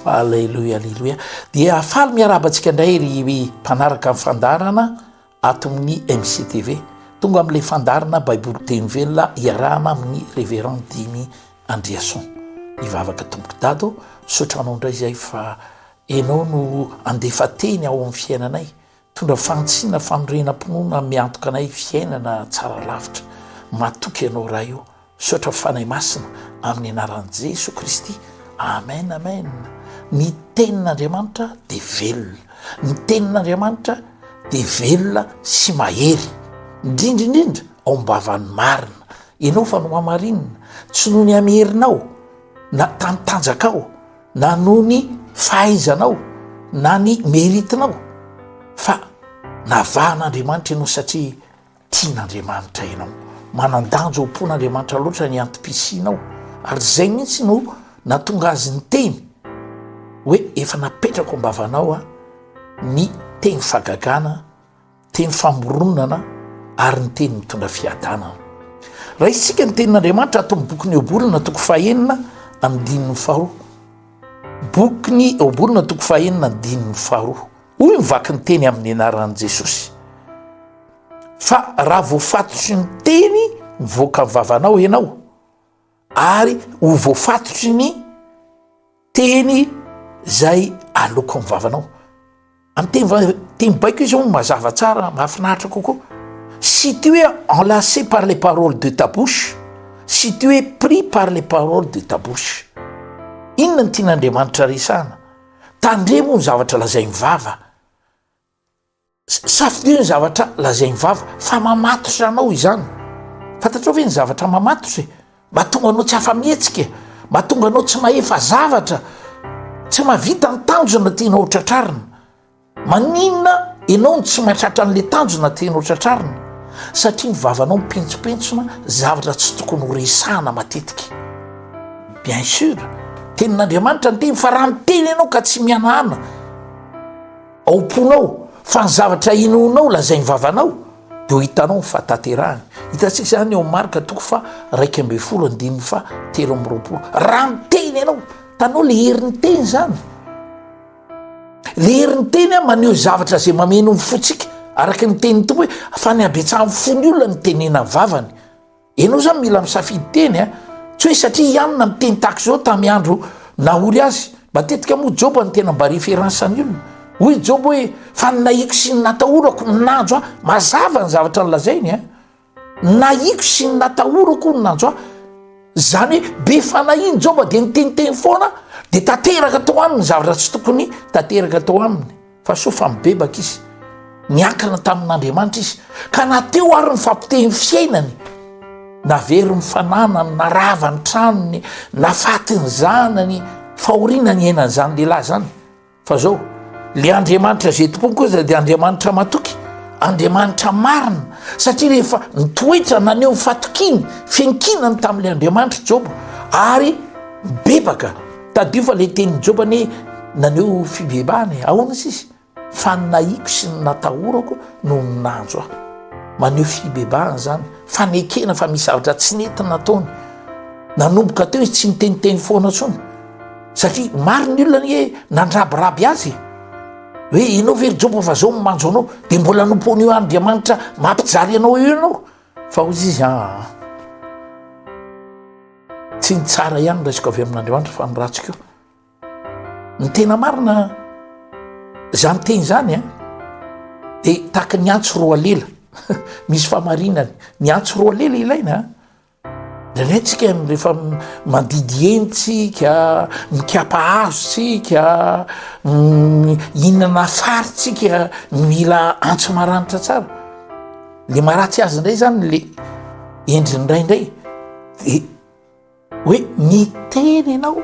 Aleloia aleloia dia faly miarahaba antsika indray ry mpanaraka ny fandaharana ato amin'ny MCTV tonga amin'ilay fandaharana Baiboly teny velona iarahana amin'ny Révérend Dimy Andriason ivavaka tompoko dado misaotra anao indray izay fa ianao no handefa teny ao amin'ny fiainanay Mitondra fahantsiana fanorenam-pinoana miantoka anay fiainana tsara lavitra. Matoky Ianao Ray o. Misaotra Fanahy Masina amin'ny anaran'i Jesoa Kristy. Amen Amen. Ny Tenin'Andriamanitra dia velona. Ny Tenin'Andriamanitra dia velona sy mahery. Indrindra indrindra ao am-bavan'ny marina. Ianao fa nohamarinina, tsy noho ny amin'ny herinao na tamin'ny tanjakao, na noho ny fahaizanao na ny mérite-nao fa navahan'Andriamanitra ianao satria tian'Andriamanitra ianao. Manan-danja ho mpon'Andriamanitra loatra ny antom-pisianao ary izay mihitsy no nahatonga azy niteny hoe efa napetrako am-bavanao ny teny fahagagana, Teny famoronana ary ny teny mitondra fiadanana. Raha isika ny tenin'Andriamanitra ato amin'ny bokin'ny Eobolona toko fahenina andininy faharoa. Bokin'ny Eobolona toko fahenina andininy faharoa. Hoy ny vaky ny teny amin'ny anaran'i Jesosy. Fa raha voafatotry ny teny mivoaka ny vavanao ianao, ary ho voafatotry ny teny zay aloko am vavanao am teny va teny baiko izy hono mazava tsara mahafinaritra kokoa si tu es enlacé par les paroles de ta bouche si tu es pris par les paroles de ta bouche inona ny tian'andriamanitra resahana tandremo ny zavatra lazain'ny vava Safidio ny zavatra lazain'ny vava fa mamatotra anao izany. Fantatrao ve ny zavatra mamatotra e? Mahatonga anao tsy afa-mihetsika e, mahatonga anao tsy mahefa zavatra, tsy mahavita ny tanjona tianao ho tratrarina. Maninona ianao no tsy mahatratra an'ilay tanjona tianao tratrarina? Satria ny vavanao mipentsopentsona zavatra tsy tokony ho resahana matetika. Bien sûr, tenin'Andriamanitra ny teny fa raha miteny ianao ka tsy mihanahana, Ao am-ponao fa ny zavatra inoanao lazain'ny vavanao dia ho hitanao ny fahataterahany. Hitantsika izany eo Marka toko fa raika ambin'ny folo andininy fa telo amby roapolo. Raha miteny ianao, tanao le herin'ny teny izany. Le herin'ny teny a maneho zavatra izay mameno ny fontsika araka ny tenin'ny tompo hoe fa ny habetsahan'ny fon'ny olona ny tenena vavany. Enao zany mila misafidy teny a, tsy hoe satria i Anna niteny tahaka izao tamin'ny andro nahory azy. Matetika moa Joba no tena mba référence an'ny olona. Hoy Joba hoe, fa ny nahiko sy ny natahorako no nanjo ahy. Mazava ny zavatra nolazainy a! Nahiko sy ny natahorako no nanjo ahy. Izany hoe be fanahy iny Joba dia niteniteny foana dia tanteraka tao aminy ny zavatra tsy tokony tanteraka tao aminy. Fa soa fa mibebaka izy, niankina tamin'Andriamanitra izy, ka na teo ary ny fahapotehin'ny fiainany, na very ny fananany, na rava ny tranony, na fatin'ny zanany, fahoriana niainany izany lehilahy izany. Fa zao, le Andriamanitra izay tompony kosa dia Andriamanitra matoky, Andriamanitra marina, satria rehefa nitoetra naneho ny fatokiany, fiankinany tamin'ilay Andriamanitra i Joba, ary mibebaka. Tadidio fa ilay tenin'i Joba anie naneho fibebahana e. Ahoana izy izy? Fa ny nahiko sy ny natahorako no nanjo ahy. Maneho fibebahana izany, fanekena fa misy zavatra tsy nety nataony. Nanomboka teo izy tsy niteniteny foana intsony, satria maro ny olona anie nandrabiraby azy e. Hoe ianao ve ry Joba fa izao no manjo anao, dia mbola nompoan'io Andriamanitra mampijaly anao io ianao? Faozy izy aa! Tsy ny tsara ihany no raisiko avy amin'Andriamanitra fa ny ratsy koa. Ny tena marina izany teny izany a dia tahaka ny antsy roa lela misy famarinany. Ny antsy roa lela ilaina indraindray tsika rehefa mandidy eny tsika, mikapa hazo tsika, mihinana fary tsika, mila antsy maranitra tsara. Le maharatsy azy indray zany le endriny indray indray de hoe miteny ianao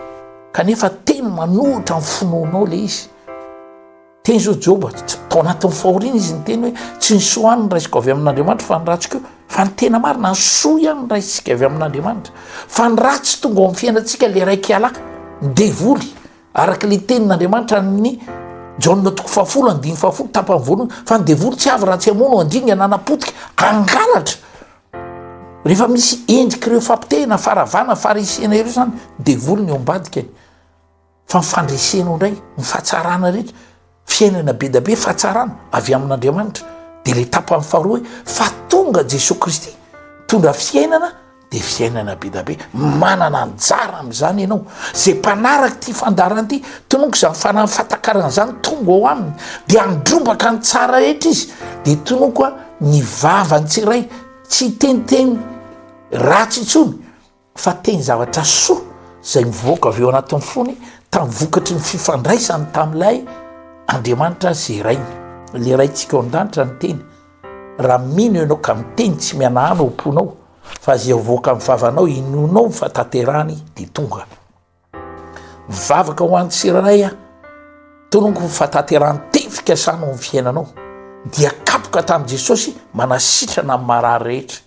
kanefa teny manohitra ny finoanao le izy teny zao joba tao anatin'ny fahoriana izy ny teny hoe tsy ny soa any ny raisiko avy amin'andriamanitra fa ny ratsy ko fa ny tena marina ny soa ihany ny raisitsika avy amin'andriamanitra fa ny ratsy tonga ao amin'ny fiainantsika le raiky ialahy ny devoly Araka ilay tenin'Andriamanitra an'ny Jaona toko fahafolo andininy fahafolo tapany voalohany fa ny devoly tsy avy raha tsy hamono andringa na hanapotika hangalatra. Rehefa misy endrik'ireo fampitehina faravana farisiana ireo izany devoly ny eo ambadikany fa ny fandresena ao indray ny fahatsarana rehetra. Fiainana be dia be fahatsarana avy amin'Andriamanitra dia ilay tapany faharoa hoe fa tonga Jesoa Kristy mitondra fiainana dia fiainana be dia be. Manana anjara amin'izany ianao. Izay mpanaraka ity fandaharana ity, tononiko izany fanahy fahatakarana izany tonga ao aminy dia handrombaka ny tsara rehetra izy. Dia tononiko ny vavany tsy iray, tsy hiteniteny ratsy intsony. fa teny zavatra soa izay mivoaka avy ao anatin'ny fony tamin'ny vokatry ny fifandraisany tamin'ilay Andriamanitra zerainy. Ilay Raintsika ao an-danitra ny teny. Raha mino ianao ka miteny tsy mihanahana ao am-ponao fa izay mivoaka amin'ny vavanao inoanao fa tanterahany dia tonga. Mivavaka ho an'ny tsirairay aho, tolongo ho fatanterahany teny fikasana ho amin'ny fiainanao, dia kapoka tamin'i Jesosy manasitrana amin'ny marary rehetra.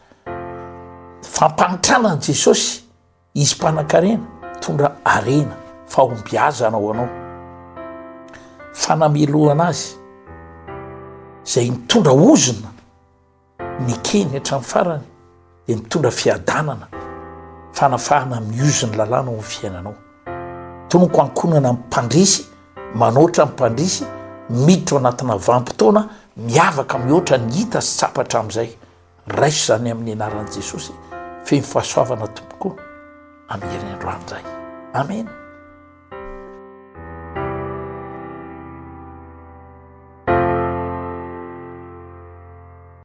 Fampanitrana an'i Jesosy, izy mpanankarena, tondra harena, fahombiazana ho anao. Fanamelohana azy, izay mitondra ozona. Nikeny hatramin'ny farany dia mitondra fiadanana, fanafahana miozo ny lalàna ao amin'ny fiainanao. Tonoko ankohonana ny mpandresy, manoatra ny mpandresy, miditra ao anatina vanim-potoana miavaka mihoatra ny hita sy tsapa hatramin'izay. Raiso izany amin'ny anaran'i Jesosy feno fahasoavana tompoko amin'ny herin'ny androany izay. Amena.